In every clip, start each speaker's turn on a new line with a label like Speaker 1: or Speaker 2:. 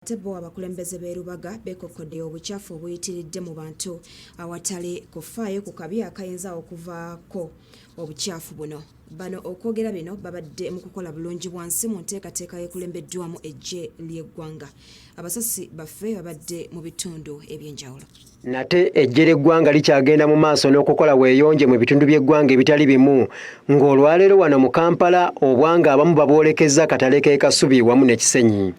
Speaker 1: Ate bo abakulembeze b'e Lubaga beekokkodde obucaafu obuyitiridde mu bantu awatali kufaayo ku kabi akayinza okuvaako obucaafu buno. Bano okwogera bino babadde mu kukola bulungi bwansi mu nteekateeka ekulembeddwamu eggye ly'eggwanga. Abasasi baffe babadde mu bitundu eby'enjawulo. Nate eggye
Speaker 2: ly'eggwanga likyagenda mu maaso n'okukola weeyonje mu bitundu by'eggwanga ebitali bimu ng'olwaleero wano mu Kampala obwanga abamu babwolekezza akatale k'e Kasubi wamu ne Kisenyi.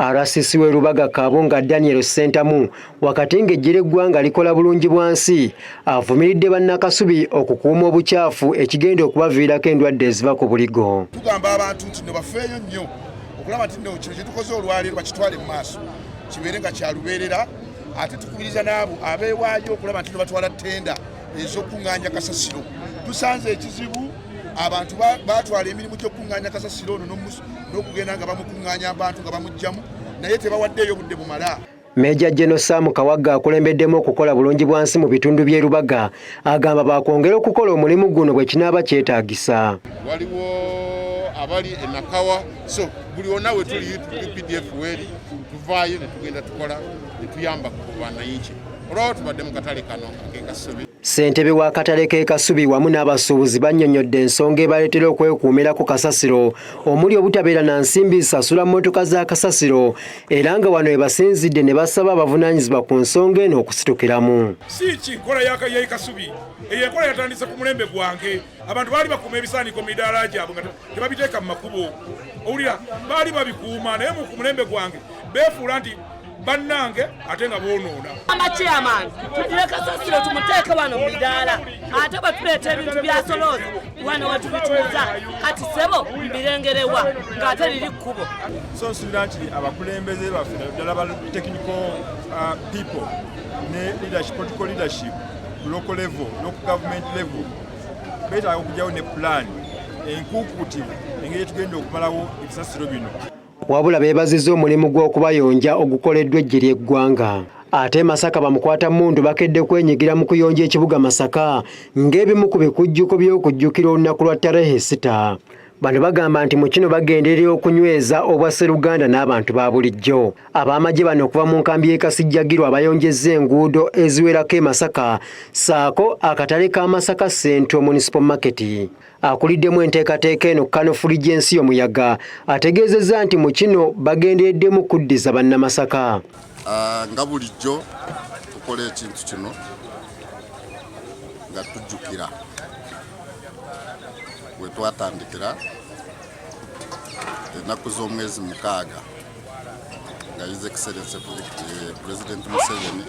Speaker 2: RCC w'e Lubaga Kabunga Daniel Ssentamu wakati ng'eggye ly'eggwanga likola bulungi bwa nsi avumiridde bannakasubi okukuuma obukyafu ekigenda okubaviirako endwadde eziva ku buligo tugamba abantu nti
Speaker 3: nebafeeyo nnyo okulaba nti no kino kyetukoze olwaleero bakitwale mu maaso kibeere nga kyalubeerera ate tukubiriza n'abo abeewaayo okulaba nti nebatwala ttenda ez'okuŋŋaanya kasasiro tusanze ekizibu abantu batwala emirimu gy'okukuŋŋaanya kasasiro ono n'okugenda nga bamukuŋŋaanya abantu nga bamuggyamu naye tebawaddeeyo budde bumala Meeja General
Speaker 2: Sam Kawagga akulembeddemu okukola bulungi bwa nsi mu bitundu by'e Lubaga agamba baakwongera okukola omulimu guno bwe kinaaba kyetaagisa. Waliwo
Speaker 4: abali e Nakawa so buli wonna we tuli UPDF weeri tuvaayo ne tugenda tukola ne tuyamba ku bananchi olwawo tubadde mu katale kano ak'ekasubi Ssentebe wa katale k'e Kasubi
Speaker 2: wamu n'abasuubuzi bannyonnyodde ensonga ebaleetera okwekuumira ku kasasiro omuli obutabeera na nsimbi zisasula mmotoka za kasasiro era nga wano ebasinzidde ne basaba abavunaanyizibwa ku nsonga eno okusitukiramu si ki nkola
Speaker 5: yakayai kasubi eyo enkola yatandise ku mulembe gwange abantu baali bakuuma ebisaaniko midaala gyabwe nga tebabiteeka mu makubo owulira baali babikuuma naye mu ku mulembe gwange beefuula nti bannange ate nga bonoona amakyaman
Speaker 6: tugire kasasiro tumuteeke wano mu midaala ate batuleeta ebintu byasolooza wano wetubituuza kati sebo mbirengerewa ng'ate liri kkubo so nsubira nti
Speaker 7: abakulembeze baffe naddala ba technical uh, people ne leadership political leadership local level loku government level betaaga okugyawo ne pulaani enkuukuutivu engeri etugenda okumalawo ebisasiro bino wabula beebaziza
Speaker 2: omulimu gw'okubayonja ogukoleddwa eggye ly'eggwanga ate e masaka bamukwata mundu bakedde kwenyigira mu kuyonja ekibuga masaka ng'ebimu ku bikujjuko by'okujjukira olunaku lwa tarehe sita bano bagamba nti mu kino bagenderera okunyweza obwa sseruganda n'abantu ba bulijjo ab'amagye bano okuva mu nkambi y'e kasijjagirwa abayonjezza enguudo eziwerako e masaka saako akatale ka masaka central municipal market akuliddemu enteekateeka eno kanofuli gy'ensi y'omuyaga ategeezezza nti mu kino bagendereddemu kuddiza bannamasaka ah, nga
Speaker 4: bulijjo tukola ekintu kino nga tujjukira we twatandikira ennaku z'omwezi mukaaga nga yize ekiserense pulezidenti eh, museveni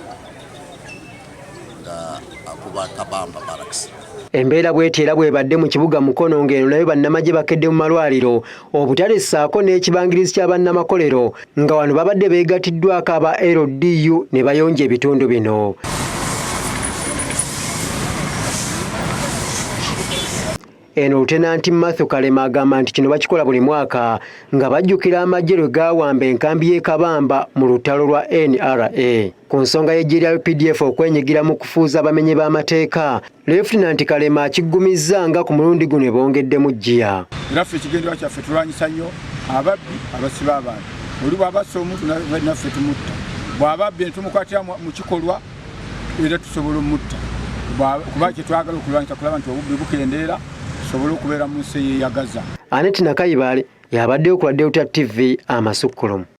Speaker 4: nga akuba kabamba barracks Embeera bweti
Speaker 2: era bwebadde mu kibuga Mukono ng'eno nayo bannamagye bakedde mu malwaliro obutale ssaako n'ekibangirizi kya bannamakolero nga wano babadde beegatiddwako aba LDU ne bayonja ebitundu bino. Eno Lutenanti Matthew Kalema agamba nti kino bakikola buli mwaka nga bajjukira amagye lwe gaawamba enkambi y'e Kabamba mu lutalo lwa NRA. Ku nsonga y'eggye lya UPDF okwenyigira mu kufuuza abamenyi b'amateeka, Lefutinanti Kalema akiggumizza nga ku mulundi guno ebongeddemu ggiya. Era ffe ekigendererwa
Speaker 7: kyaffe tulwanyisa nnyo ababbi abasiba abantu. Oli bw'abassa omuntu naffe tumutta. Bw'ababbi ne tumukwatira mu kikolwa era tusobola omutta kuba kyetwagala okulwanyisa kulaba nti obubbi bukendeera tusobole okubeera mu nsi eyeyagaza aneti
Speaker 2: nakayibaale yabaddeyo ku
Speaker 7: radio ta
Speaker 2: tv
Speaker 7: amasukkulumu